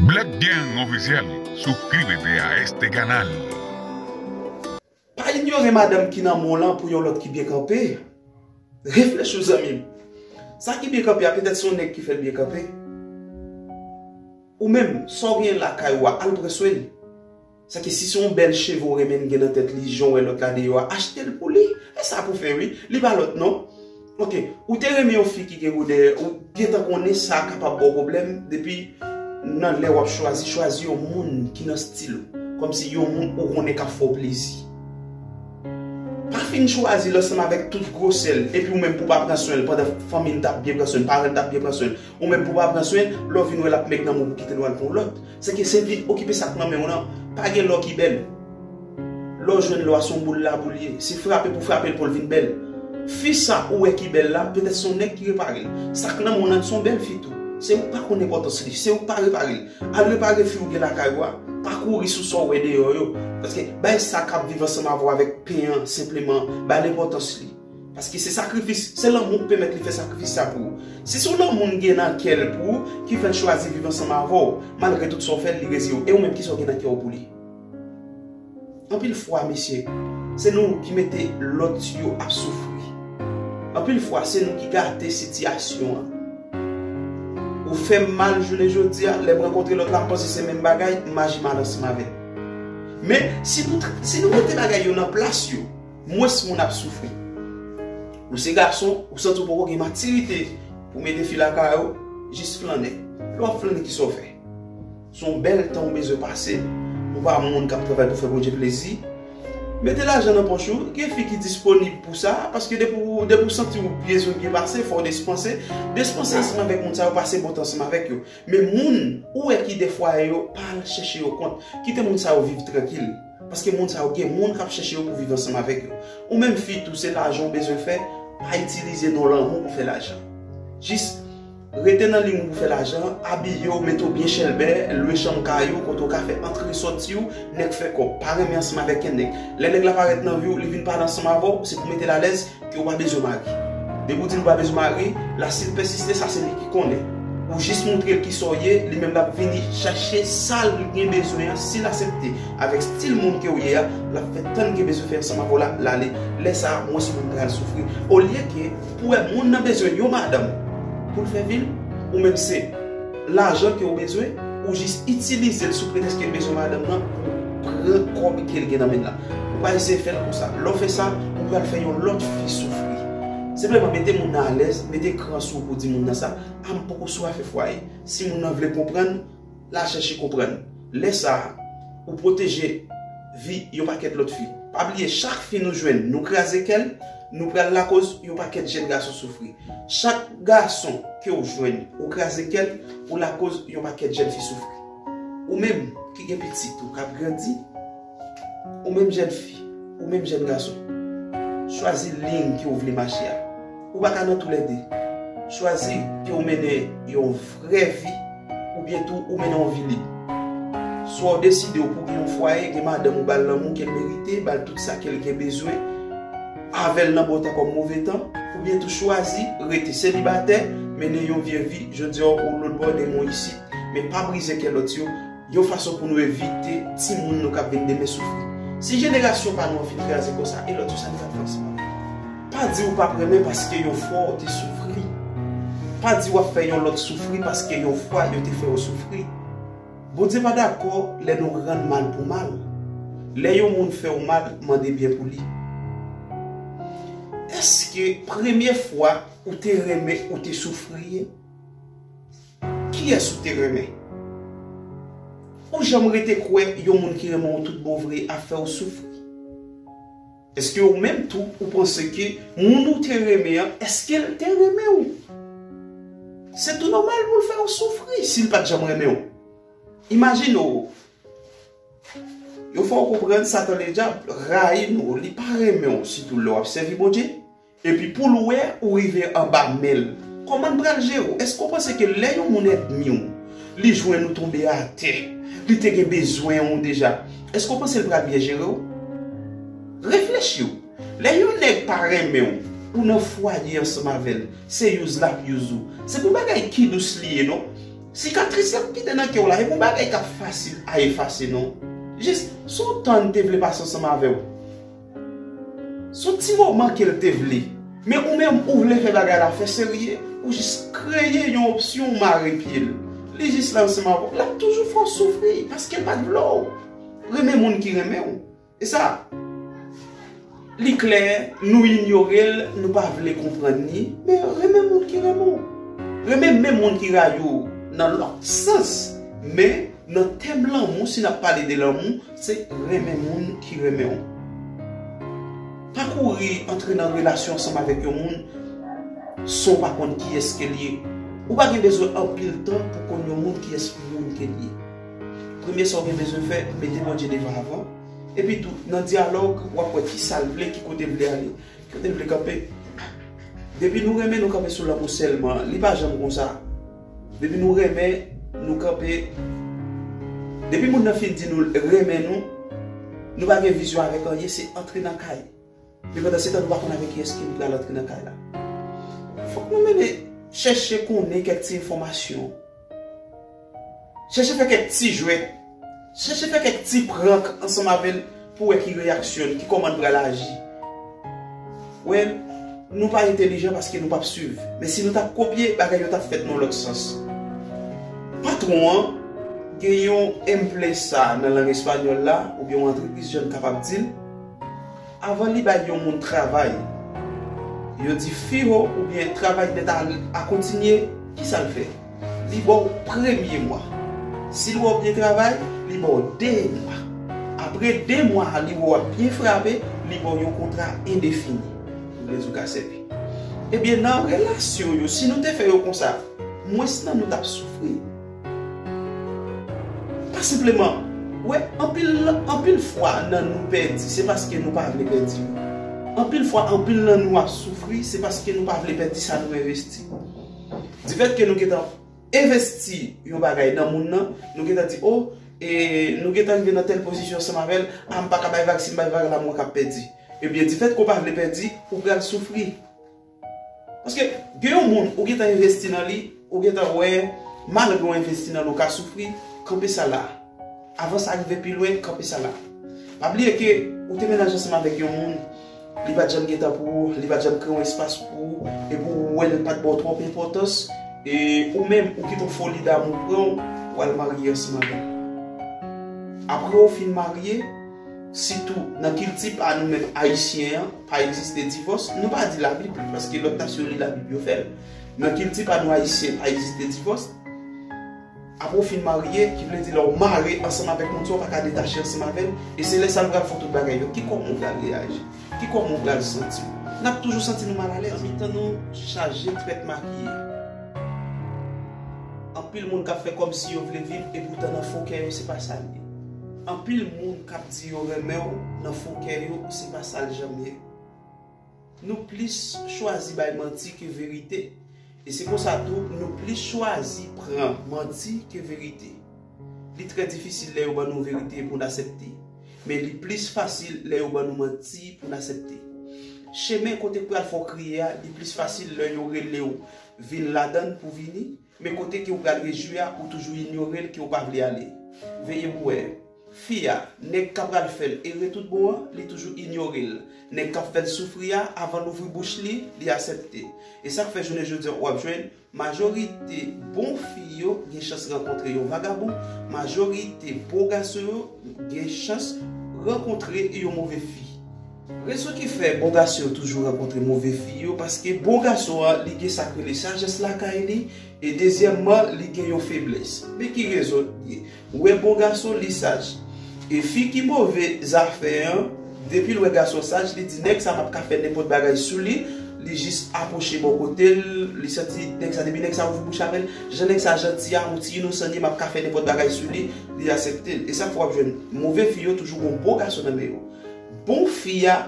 Black Gang Officiel souscribe te a este canal. Pa inyore madanm ki nan men w lan pou yon lòt ki byen kanpe. Reflechi w zanmi m. Sa ki byen kanpe a petèt se yon nèg ki fè l byen kanpe. Ou menm, sa w genyen lakay ou a, al pran swen li. Sa ke si se yon bèl cheve ou renmen gen nan tèt li jan ou wè lòt la deyò a achte l pou li. E sa pou fè wi. Li pa lòt non. Ok, ou te renmen yon fi ki gen gwo dèyè, ou gentan konnen sa kapab ba w pwoblèm depi nan lè w ap chwazi, chwazi yon moun ki nan stil ou. Kòmsi yon moun ou konnen k ap fè w plezi. Pa fin chwazi l ansanm avèk tout gwosè l epi ou menm pou w pa pran swen l pandan fanmi l t ap byen pran swen l, paran l t ap byen pran swen l. Ou menm pou pa pran swen l, lè w vin wè l ap mèg nan men w pou kite l ou al pran yon lòt. Se ke se vin okipe sa k nan men w lan. Pa gen lò ki bèl. Lè w jwenn lò a se yon boul laboul ye. Se frape pou frape l pou l vin bèl. Fi sa ou wè ki bèl la, petèt se yon nèg ki repare l. Sa k nan men w lan se yon bèl fi tou. Se ou k pa konn enpòtans li. Se ou k pa repare l. Al repare fi ou gen lakay ou a. Pa kouri sou sa w wè deyò yo. Paske bay sa k ap viv ansanm avè w avèk pen an senpleman. Ba l enpòtans li. Paske se sakrifis, se lanmou k pèmèt li fè sakrifis sa pou ou. Si se yon lanmou l gen nan kè l pou ou ki fè l chwazi viv ansanm avè w, malgre tout sa w fè l, li reziye w. E ou menm kisa w gen nan kè w pou li? Anpil fwa mesye, se nou ki mete lòt yo ap soufri. Anpil fwa se nou ki gate sitiyasyon an. Ou fè m mal jounen jodi a, lè m rankontre lòt la m panse se menm bagay, m aji mal ansanm avè l. Men, si nou mete bagay yo nan plas yo. Mwens moun ap soufri. Ou se gason, ou santi w poko gen matirite pou mete fi lakay ou, jis flannen. Lè w ap flannen ki sa w fè? Se yon bèl tan ou bezwen pase, ou pa moun k ap travay pou fè Bondye plezi. Mete lajan nan pòch ou, gen fi ki disponib pou sa, paske depi ou santi ou bezwen byen pase, fò w despanse. Despanse ansanm avèk moun sa yo, pase bon tan ansanm avèk yo. Men moun ou wè ki de fwaye yo, pa al chèche yo kont. Kite moun sa yo viv trankil. Paske moun sa yo gen moun kap chèche yo pou viv ansanm avèk yo. Ou menm fi tou se lajan ou bezwen fè, pa itilize non lanmou pou fè lajan. Jis Rete nan liy moun pou fè lajan, abiye w, mete w byen chèlbè, lwe chanm kay ou kote ou ka fè antre sòti ou, nèg fè kòb, pa renmen ansanm avèk kèn nèg. Lè nèg la parèt nan vi w, li vin pale ansanm avè w, se pou metel alèz, Ke ou pa bezwen mari. Depi ou di li ou pa bezwen mari, la si li pèsiste sa se li ki konnen. Ou jis montre l kisa ou ye, li menm l ap vini chache sa l gen bezwen an, si l asepte avèk stil moun ke ou ye a, l ap fè tan li gen bezwen fè ansanm avè w la, l ale. Lè sa a mwens moun pral soufri. Olye ke pou wè moun nan bezwen yon madanm pou l fè vi l, ou menm se lajan ke ou bezwen, ou jis itilize l sou pretèks ke l bezwen madanm nan pou pran kòb ke l gen nan men l la. Ou pa eseye fèl konsa. Lè w fè sa, ou pral fè yon lòt fi soufri. Senpleman mete moun nan alèz, mete kran sou ou pou di moun nan sa, a m poko sou afè fwaye. Si moun nan vle konprann, l a chèche konprann. Lè sa, ou pwoteje vi yon pakèt lòt fi. Pa bliye chak fi nou jwenn, nou kraze kè l, nou pral lakoz yon pakèt jèn gason soufri. Chak gason ke w jwenn, ou kraze kè l, ou lakoz yon pakèt jèn fi soufri. Ou menm ki gen pitit ou k ap grandi. Ou menm jèn fi, ou menm jèn gason, chwazi liy ke w vle mache a. Ou pa ka nan tou lè 2. Chwazi ke w mennen yon vrè vi oubyen tou ou mennen yon vi lib. Swa w deside w pou gen yon fwaye, gen madanm ou bal lanmou ke l merite, bal tout sa ke l gen bezwen, avè l nan bon tan kòm move tan, oubyen tou chwazi rete selibatè, mennen yon vye vi, jodi a w lotbò demen w isit, men pa brize kè lòt yo. Yon fason pou nou evite timoun nou k ap vin demen soufri. Si jenerasyon pa nou an fin kraze konsa, e lòt yo sa n fè franchman? Pa di ou p ap renmen paske yon fwa ou te soufri. Pa di w ap fè yon lòt soufri paske yon fwa yo te fè ou soufri. Bondye pa dakò lè nou rann mal pou mal. Lè yon moun fè ou mal, mande byen pou li. Èske premye fwa ou te renmen ou te soufri? Kiyès ou te renmen? Ou janm rete kwè yon moun ki renmen w tout bon vre ap fè w soufri? Èske ou menm tou ou panse ke moun ou te renmen an èske l te renmen w? Se tou nòmal pou l fè w soufri si l pa t janm renmen w. Imajine w yo fè w konprann Satan Ledyab rayi nou, li pa renmen w sitou lè w ap sèvi Bondye. Epi poul wè ou rive anba menl. Komanl pral jere w? Eske w panse ke lè yon moun èdmi w, li jwenn ou tonbe atè, li te gen bezwen w deja, eske w panse l pral byen jere w? Reflechi w. Lè yon nèg pa renmen w, ou nan fwaye ansanm avèl, se use lap use ou. Se pou bagay ki dous li ye non. Sikatris lap kite nan kè w la, e pou bagay kap fasil a efase non. Jis, son tan li te vle pase ansanm avè w. Son ti moman kel te vle. Men ou menm ou vle fè bagay la fè serye ou jis kreye yon opsyon ou mare pyel li jis la ansanm avèw lap toujou fè w soufri paskel pat vle w renmen moun ki renmen w esa li klè nou inyorel nou pa vle konprann li men renmen moun ki renmen w renmen menm moun ki rayi w nan lòt sans men nan tèm lanmou si nap pale de lanmou Se renmen moun ki renmen w. Pa kouri antre nan relasyon ansanm avèk yon moun san w pa konn kiyès ke l ye. Ou pa gen bezwen anpil tan pou konn yon moun kiyès moun ke l ye. Premye sa w gen bezwen fè, mete Bondye devan avan. Epi tou, nan dyalòg, w ap wè ki sa l vle, ki kote l vle ale, ki kote l vle kanpe. Depi nou renmen nou kanpe sou lanmou sèlman, li pa janm konsa. Depi nou renmen, nou kanpe Depi moun nan fin di nou l renmen nou, nou pa gen vizyon avèk anyen, se antre nan kay Men pandansetan nou pa konn avèk kiyès ke nou pral antre nan kay la Fòk nou mennen chèche konnen kèk ti enfòmasyon Chèche fè kèk ti jwèt Chèche fè kèk ti prank ansanm avè l pou wè ki reyaksyon li, ki kòman li pral aji. Wè, nou pa entelijan paske nou p ap suiv. Men si nou t ap kopye, bagay yo t ap fèt nan yon lòt sans. Patwon an gen yon emplesa nan lang espanyòl la, oubyen yon antrepriz jan n kapab di l, avan li bay yon moun travay, yo di fiho oubyen travay nèt a kontinye, ki sa l fè? Li ba w premye mwa. Si l wè w byen travay, li ba w de mwa. Apre de mwa a, li wè w ap byen frape, li ba w yon kontra endefini. Ou vle di w ka sèvi. Ebyen, nan relasyon yo, si nou te fè yo konsa, mwens nan nou t ap soufri. Pa senpleman, ou wè, anpil fwa nan nou pèdi, se paske nou pa vle pèdi. Anpil fwa, anpil nan nou ap soufri, se paske nou pa vle pèdi sa nou envesti. Difèt ke nou gentan envesti yon bagay nan moun nan, nou gentan di o, e nou gentan rive nan tèl pozisyon ansanm avè l, a m pa ka bay vag, si m bay vag la mwen ka pèdi. Ebyen difèt ke w pa vle pèdi, ou pral soufri. Paske gen yon moun ou gentan envesti nan li, ou gentan wè malgre w envesti nan l ou ka soufri, kanpe sa la. Avan sa rive pi lwen, kanpe sa la. Pa bliye ke ou te mennaj ansanm avèk yon moun. Li pat janm gen tan pou ou, li pat janm kreye yon espas pou ou, epi ou wè l pat ba w twòp enpòtans, e ou menm ou kite yon foli damou pran w, w al marye ansanm avè l. Aprè ou fin marye, sitou nan kilti pa nou menm ayisyen an, pa egziste divòs, nou pa di labib, paske lòt nasyon li labib yo fè l, nan kilti pa nou ayisyen pa egziste divòs, Apre w fin marye, ki vle di lè w mare ansanm avèk moun sa w pa ka detache ansanm avè l, e se lè sa nou pral fè tout bagay yo. Ki kòman w pral reyaji? Ki kòman w pral santi w? N ap toujou santi nou malalèz. Nan mitan nou chaje trèt makiye. Anpil moun k ap fè kòmsi yo vle viv epoutan nan fon kè yo se pa sa l ye. Anpil moun k ap di yo renmen w nan fon kè yo se pa sa l janm ye. Nou plis chwazi bay manti ke verite, e se konsa tou nou plis chwazi pran manti ke verite. Li trè difisil lè yo ban nou verite pou n asepte, men li plis fasil lè yo ban nou manti pou n asepte. Chemen kote k pral fè w kriye a, li plis fasil lè yo rele w vin ladan l pou vini, Men kote ke ou pral rejwi a, ou toujou inyore l ke ou pa vle ale. Veye pou wè. Fi a, nèg ka pral fè l ere tout bon an, li toujou inyore l. Nèg kap fè l soufri a, avan l ouvri bouch li, li asèpte. E sak fè jounen jodi an ou ap jwenn, majorite bon fi yo gen chans rankontre yon vagabon, majorite bon gason yo gen chans rankontre yon move fi. Rezon ki fè bon gason yo toujou rankontre move fi yo paske bon gason an li gen sak rele sajès lakay li e dezyèmman li gen yon feblès men ki rezon li ye ou wè bon gason li saj e fi ki move zafè an depil wè gason saj li di nèg sa pap ka fè nenpòt bagay sou li li jis apwoche bò kotel li santi nèg sa depi nèg sa ouvri bouch avèl jan nèg sa janti a yon ti inosan li ye map ka fè nenpòt bagay sou li li aseptel esak fè wap jwenn move fi yo toujou gon bon gason nan men yo. Bon fi a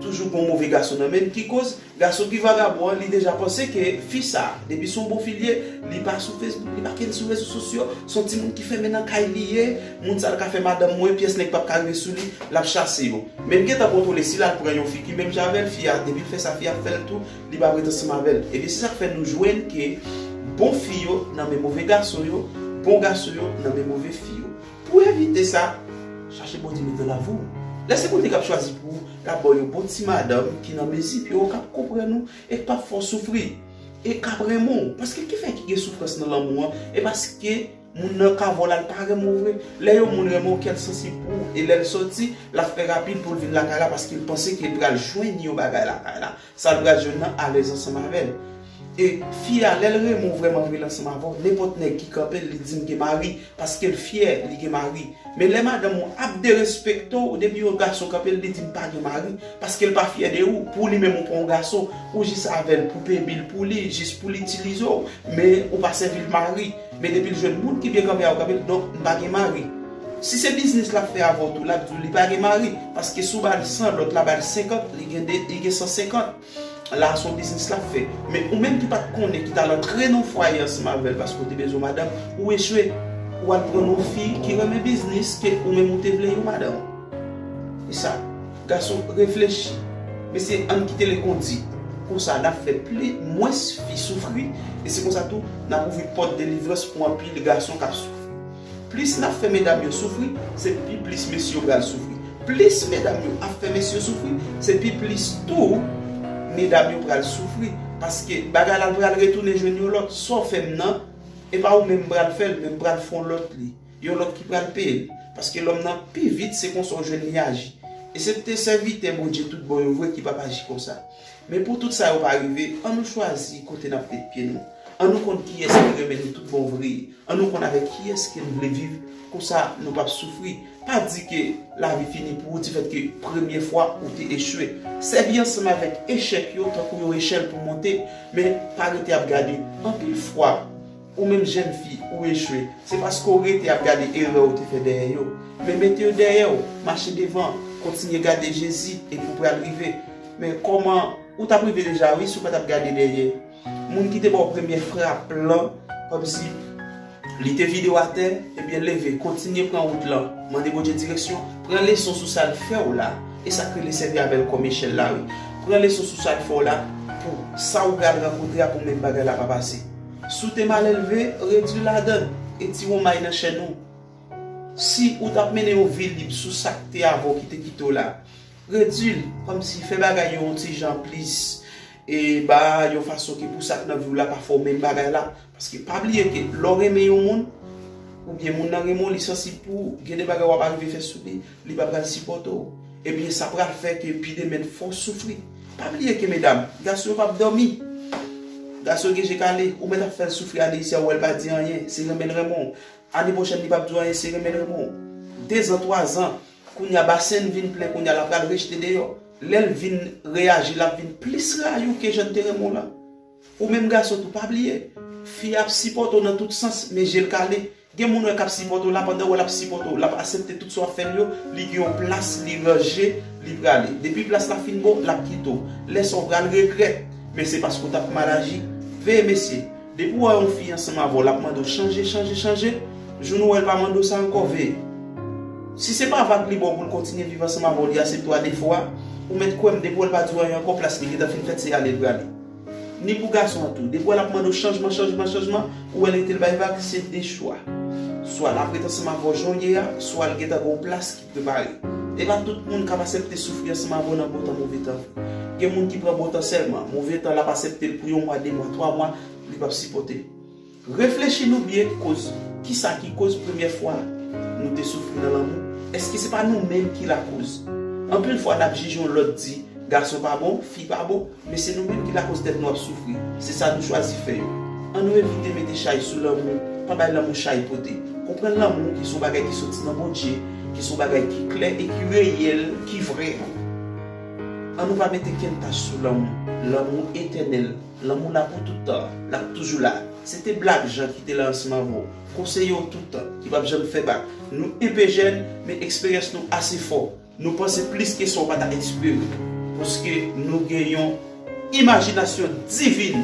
toujou gon move gason nan menl ki koz gason ki vagabon an li deja panse ke fi sa depi son bon fi li ye li pa sou Facebook li pa ken sou rezo sosyo son ti moun ki fèmen nan kay li ye moun sa l ka fè madanm mwen pyès nèg pap ka rive sou li lap chase yo menm gentan kontwole si lal pran yon fi ki menm jan avèl fi a depi l fè sa fi a ap fèl tou li pap ret ansanm avèl ebyen se sak fè nou jwenn ke bon fi yo nan men move gason yo bon gason yo nan men move fi yo. Pou w evite sa, chache Bondye met nan lavi w. Lè se Bondye k ap chwazi pou ou, l ap ba w yon bon ti madanm ki nan mezi pi wo, k ap konprann ou e k pap fè w soufri, e k ap renmen w. Paske ki fè ki gen soufrans nan lanmou an? E paske moun nan ka vole al pa renmen w vre. Lè yon moun renmen w, kè l sansib pou ou e lè l soti, l ap fè rapid pou l vin lakay la paske l panse ke l pral jwenn yon bagay lakay la. Sa l pral jwenn nan alèz ansanm avè l. E fi a, lè l renmen w vrèman vre l ansanm avè w, nenpòt nèg ki kanpe l li di m gen mari, paske l fyè li gen mari. Men lè madanm ou ap derespekte w depi yon gason kanpe l li di m pa gen mari, paske l pa fyè de ou, pou li menm ou pa yon gason, ou jis avè l pou peye bil pou li, jis pou l itilize w, men ou pa sèvi l mari. Men depil jwenn moun ki byen kanpe avk anpil donk m pa gen mari. Si se biznis lap fè avèw tou lap diw li pa gen mari paske si w bal 100 lòt la bal 50 li gen de li gen 150 la son biznis lap fè men ou menm ki pat konnen ki tal antre nan fwaye ansanm avèl paske w te bezwen madanm ou echwe wal pran yon fi ki renmen biznis ke ou menm ou te vle yon madanm esa. Gason reflechi mesye ann kite le kondi konsa nap fè pli mwens fi soufri e se konsa tou nap ouvri pòt delivrans pou anpil gason kap soufri plis nap fè medam yo soufri se pi plis mesye yo pral soufri plis medam yo ap fè mesye yo soufri se pi plis tou medam yo pral soufri paske bagay la pral retounen jwenn yon lòt sa w fè m nan e pa ou menm m pral fè l men m pral fon lòt li. Yon lòt ki pral peye l. Paske lòm nan pi vit se konsa w jwenn li aji. Esepte sèvitè Bondye tout bon yo vre ki p ap aji konsa. Men pou tout sa yo pa rive, an nou chwazi kote n ap met pye nou. An nou konn kiyès ki renmen nou tout bon vre. An nou konn avèk kiyès ke n vle viv, konsa nou p ap soufri. Pa di ke lavi fini pou ou difètke premye fwa ou te echwe. Sèvi ansanm avèk echèk yo tankou yon echèl pou monte, men pa rete ap gade. Anpil fwa. Ou menm jèn fi, ou echwe, se paske w rete ap gade erè ou te fè dèyè yo. Men mete yo dèyè w, mache devan, kontinye gade Jezi epi w pral rive. Men kòman, ou t ap rive deja wi si w pa t ap gade dèyè. Moun ki te ba w premyè frap lan, kòmsi li te vide w atè, ebyen leve, kontinye pran wout lan, mande Bondye direksyon, pran leson sou sa l fè w la, e sa k rele sèvi avè l kòm echèl la wi. Pran leson sou sa l fè w la pou sa ou pral rankontre a pou menm bagay la pa pase. Si w te malelve, redui ladann, e ti won may nan chenn ou. Si ou t ap mennen yon vi lib sou sa k te avè w ki te kite w la, redui l, kòmsi fè bagay yo yon ti jan plis e ba yon fason ki pou sa k nan vi w la pa fè w menm bagay la. Paske pa bliye ke lè w renmen yon moun, oubyen moun nan renmen w, li sansib pou ou, gen de bagay w ap arive fè sou li, Li pa pral sipòte w. Ebyen sa pral fè ke pi demen fè w soufri. Pa bliye ke medam, gason yo pap dòmi. Gason gen je kale. Ou mèt ap fè l soufri ane isi a ou wè l pa di anyen. Se renmen l renmen w. Ane pwochèn li pap di w anyen se renmen l renmen w. Dezan, twazan. Kounye a basen l vin plen kounye a la pral rejte deyò. Lè l vin reyaji lap vin plis rayi w ke jan l te renmen w lan. Ou menm gason tou pa bliye. Fi a ap sipòte w nan tout sans men je l kale. Gen moun wè kap sipòte w la pandan wè lap sipòte w lap asepte tout sa wap fè l yo li gen yon plas li ranje li prale depi plas la fin bon lap kite w lè sa w pral regrèt men se paske w tap mal aji veye mesye depi w wè yon fi ansanm avè w lap mande w chanje chanje chanje jou nou wè l pa mande w sa ankò veye si se pa vag li ba w pou l kontinye viv ansanm avè w li asepte w a defo a ou mèt kwè m depi w wè l pa di w anyen ankò plas li gentan fin fèt se ale li prale. Ni pou gason an tou. Depi w wè l ap mande w chanjman, chanjman, chanjman, ou wè l rete l bay vag, se de chwa. Swa l ap ret ansanm avè w jan w ye a, swa l gentan gen yon plas ki prepare. E pa tout moun k ap asepte soufri ansanm avè w nan bon tan move tan. Gen moun ki pran bon tan sèlman. Move tan l ap asepte l pou yon mwa, de mwa, twa mwa, li p ap sipòte l. Reflechi nou byen koz kisa ki koz premyè fwa nou te soufri nan lanmou, eske se pa nou menm ki lakoz? Anpil fwa nap jije yon lòt di gason pa bon, fi pa bon, men se nou menm ki lakoz tèt nou ap soufri, se sa nou chwazi fè yo. An nou evite mete chay sou lanmou, pa bay lanmou chay pote. Konprann lanmou ki son bagay ki soti nan Bondje, ki son bagay ki klè e ki reyèl, ki vrè. An nou pa mete kenn tach sou lanmou, lanmou etènèl. Lanmou la pou tout tan, lap toujou la Se te Black Jean ki te lansman vo Konseye yo tout tan, ki pap janm fè bak Nou enpe jèn, men eksperyans nou ase fò Nou panse plis ke sa w pa ta eksprime Paske nou gen yon imajinasyon divin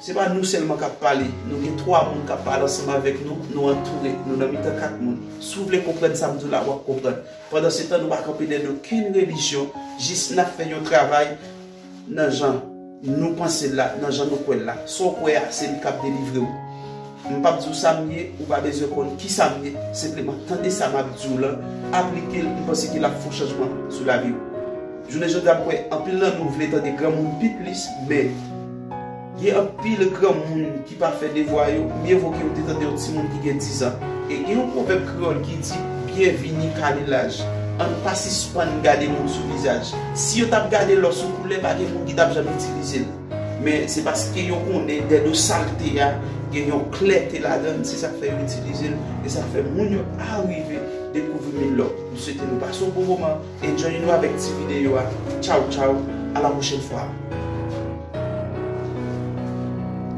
Se pa nou sèlman kap pale Nou gen 3 moun kap pale ansanm avèk nou Nou antoure, nou nan mitan 4 moun Si w vle konprann sa m di w la, wap konprann Pandansetan nou pa kanpe dèyè okenn relijyon Jis nap fè yon travay Nan jan Nou panse l la, nan jan Nou kwè l la. Sa w kwè a, se li k ap delivre w. M p ap di w sa m ye, ou pa bezwen konn kisa m ye, senpleman tande sa m ap di w lan, aplike l, m panse ke l ap fè w chanjman sou lavi w. Jounen jodi a m kwè anpil nan nou vle tande granmoun pi plis, men. Gen anpil granmoun ki pa fè devwa yo, mye vo ke yo te tande yon timoun ki gen dizan. E gen yon pwovèb kreyòl ki di, Byen vini kale laj. An nou pa sispann gade moun sou vizaj. Si yo t ap gade lò sou koulè, pa gen moun ki t ap janm itilize l. Men, se paske yo konnen dèyè do salte a, gen yon klète ladan l, se sa k fè yo itilize l, e sa k fè moun yo arive dekouvri Milò. M swete nou pase yon bon moman. E jwenn nou avèk ti videyo a tou tchaw tchaw a la pwochèn fwa.